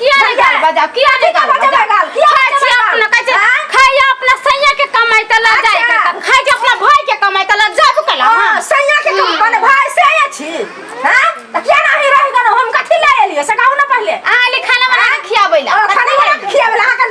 किया नहीं गाल बजाओ किया नहीं गाल बजाओ गाल किया खाई छी अपना कैसे खाई अपना सैया के कमाई त लग जाए के त खाई जे अपना भाई के कमाई त लग जाबो कला हां सैया के कम बने भाई से आया छी हां त किया नहीं रह गन हम कथि ले एलिए से कहू ना पहले आ ले खाना बना के खियाबैला ओ खाना बना के खियाबैला हां का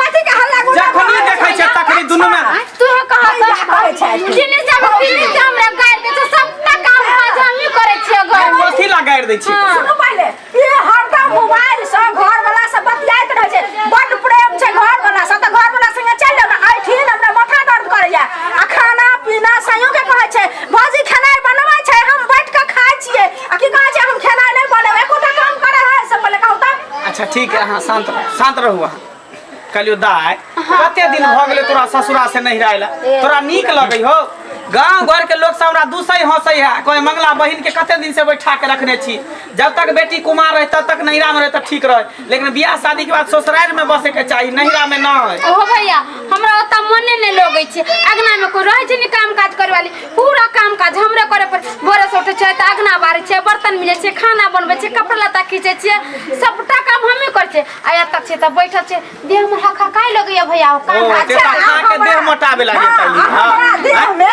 कथी के हल्ला गुल्ला जखनी भऽ देखै रहल छै तखनी दुनू मे आँय, तू हो कहा जा करै छै दिने जाब दिने जाब रे गाड़ दे छै सबटा काम काज हमही करै छियै घर में कथी ला गाड़ि दै छी हाँ। सुनू पहिले ई हरदम मोबाइल से घर वाला से बतियाइत रहै छै बड प्रेम छै घर वाला से तऽ घर वाला संगे चल जाब ना ऐठिन हमरा माथा दर्द करैया आ खाना पीना सयो के कहै छै भौजी खेनाइ बनबै छै हम बैठ के खाइ छियै आ की कहै छै हम खेनाइ नहि बनेब एकोटा काम करे है से पहिले कहू तऽ अच्छा ठीक है अहाँ शान्त रहू शान्त रहू अहाँ कहलियो दाय कते दिन भऽ गेलै तोरा ससुरा से नहिरा अयला तोरा नीक लगै हो गांव घर के लोग सब हमरा दूसै हंसै है कोई मंगला बहिन के कते दिन से बैठा के रखने छी जब तक बेटी कुमार रहे तब तक नहिरा में रहे तऽ ठीक रहे लेकिन बियाह शादी के बाद ससुराल में बसे के चाही नहिरा में न है ओहो भैया हमरा ओतऽ मने नहि लगै छै अगना मे कोई रहै छै ने काम काज करे वाली पूरा काम काज हमरे करे पर भोरे से उठे छै तऽ अगना बारे छै बर्तन मिले छै खाना बनबे छै कपड़ा लत्ता खींचे छियै सबटा काम हमें करे छै आ या तक छै तऽ बैठल छै देह में हका काई लगैया भैया ओ काम ओ, तेता खा के देह मोटाबे लागे तनी हमरा हाँ देह मे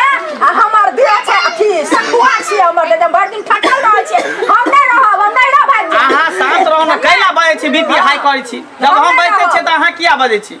आ हमर देह छै अथी सखुआ छै हमर देह भरि दिन थकल रहै छै हम नहि रहब हम नहि रहब आदमी। अहाँ शांत रहू ने कैला बाजै छी बीपी हाई करै छी जब हम बैठे छियै तऽ अहाँ किया बाजै छी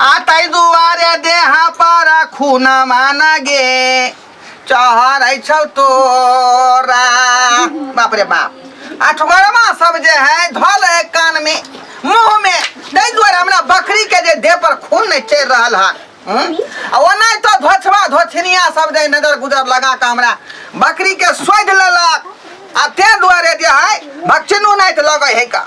आ ताहि दुआरे देह पर खून मान गे चहरै छौ तोरा बाप रे बाप अठगरमा सब जे है धल है कान में मुंह में ताहि दुआरे हमरा बकरी के जे देह पर खून नहीं चढ़ि रहल हन हम्म? आ ओनाहि तो धोछबा धोछनिया सब जे नजर गुजर लगा के हमरा बकरी के सोधि लेलक आ ते दुआरे जे है भक्सिनो नहीं तो लगे है का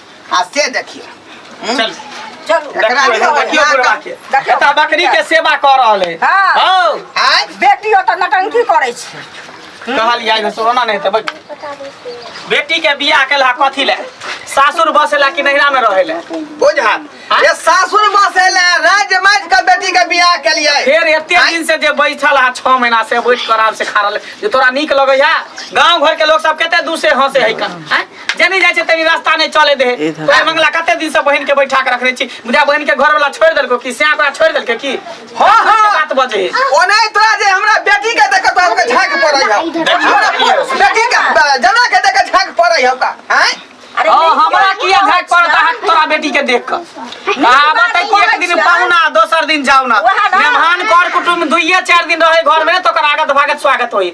आ से देखियो हम्म? चल चलू एकरा देखियो, लिए देखियो ना बुढ़वा कर- के देखियो। एता बकरी के सेवा कर रहल है हाँ। हौ आय बेटी ओतऽ नटंकी करै छै कहल जाय सोना नहीं तब बेटी के बियाह केला कथी ले सासुर बसेला कि नैहरा में रहेला बुझा ये सासुर बसेले राज्य माज के बेटी के बियाह के लिए फिर एते आँय? दिन से जे बैठल हा छह महीना से बैठ कर आराम से खा रहल है, जे तोरा नीक लगे है गांव घर के लोग सब कते दूर से हंसे है कन आँय? जने जाइ छै तनी रास्ता नहि चले दे ई धर। तोहर मंगला कते दिन से बहन के बैठा के रखने छी बुझा बहन के घर वाला छोड़ देलको कि सिया ओकरा छोड़ देलके की हाँ, हाँ। बात बजे ओने तोरा जे हमरा बेटी के देख तोरा के झांक पड़ै है हमरा बेटी के जना के देख झांक पड़ै है का हैं अरे हाँ, नहीं, हमरा नहीं, किया नहीं, झाक पड़ता है तोरा बेटी के देख कर कहावत है कि एक दिन पाहुना दोसर दिन जाओ ना वहाँ ना। मेहमान कर कुटुम दुइये चार दिन रहे घर में तो ओकर आगत भागत स्वागत होई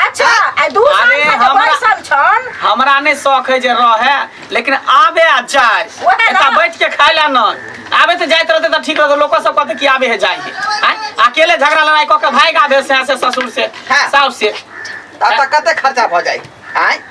अच्छा आ दू साल अरे से जे हमरा- बैसल छन हमरा नहि शौक है जे रहे लेकिन आबे आ जाए ओहे ना। एतऽ बैठ के खाय ला न आबे तऽ जाइत रहते तऽ ठीक रहते लोको सब कहते कि आबे है जाए है आँय? अकेले झगड़ा लड़ाई कऽ के भागि आबे से से ससुर से हाँ। साउस से आ तऽ कते खर्चा भऽ जाइ आँय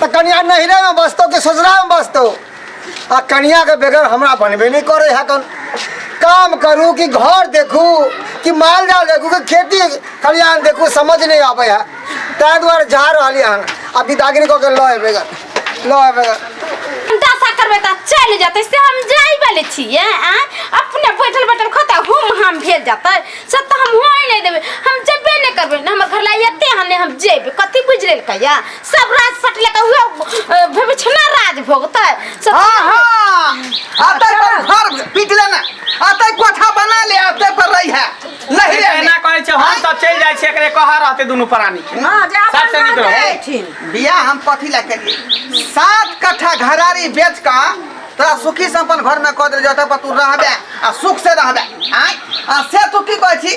तऽ कनिया नहिरे में बसतो कि ससुरा में बसतो आ कनिया के बेगर हमरा बनबे नहीं करे है कन काम करू कि घर देखू कि माल जाल देखू कि खेती खलिहान देखू समझ नहीं आवे है ताहि दुआरे जा रहलियै हन आ बिदागरी कऽ के लऽ एबै गन लऽ एबै गन हम दशा करबै तऽ चलि जेतै से हम जाइ वाले छियै आ अपने बैठल बैठल खोता हुम हम भेल जेतै से तऽ हम होय नहि देबै हम जेबे नहि करबै ने हमर घर लाइ एते हन ने हम जेबै कथी बुझि लेलकै या सब राज सट लेके उहे विभीषणा राज भोगतै से हाँ हाँ अतै पर घर पीट लेना अतै कोठा बना ले अतै पर रही है नहीं रे एना कहै छै हम सब चलि जाइ छी एकरे कह रहते दुनू प्राणी के हाँ जा साथ से निकलो। बैठिन बिया हम कथी ला करिए सात कट्ठा घरारी बेच का तोरा सुखी संपन्न घर में कह दे जतऽ पर तू रहबे आ सुख से रहबे आय आ से तू की कहै छी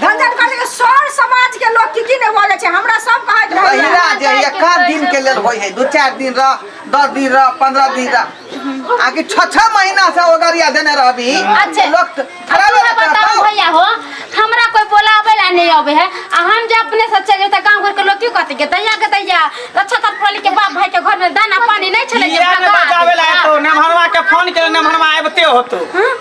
झंझट कर देंगे सर समाज के लोग की की ने बोले छे हमरा सब कहत रहे महिला जे ये कम दिन के लेल होय है दू चार दिन रह दस दिन रह पंद्रह दिन रह आकि छः छः महीना से ओगरिया देने रहबी अच्छे। लोग त- खराब हमरा बताओ बताओ भैया हो हमरा कोई बोलावे ला नहीं आवे है आ हम जब अपने से चले त गांव घर के लोग क्यों कहते के दैया के दैया अच्छा तर पली के बाप भाई के घर में दाना पानी नहीं छले के इया ने बजावे ला तो नमहरवा के फोन के नमहरवा आबते होतो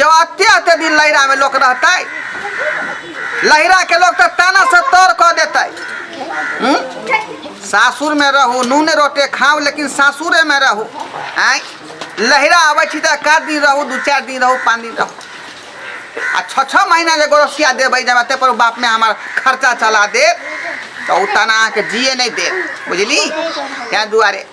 यो अते अते दिन लहरा में लोग रहते लहरा के लोग तो ताना से तोड़ कर देते सासुर में रहू नून रोटे खाओ लेकिन सासुरे में रहू आय लहरा आवे छी तो का दिन रहू दू चार दिन रहू पाँच दिन रहू आ छः छः महीना ले गोरसिया देवे जब अते पर बाप में हमार खर्चा चला दे तो उ तना के जिए नहीं दे बुझली क्या दुआरे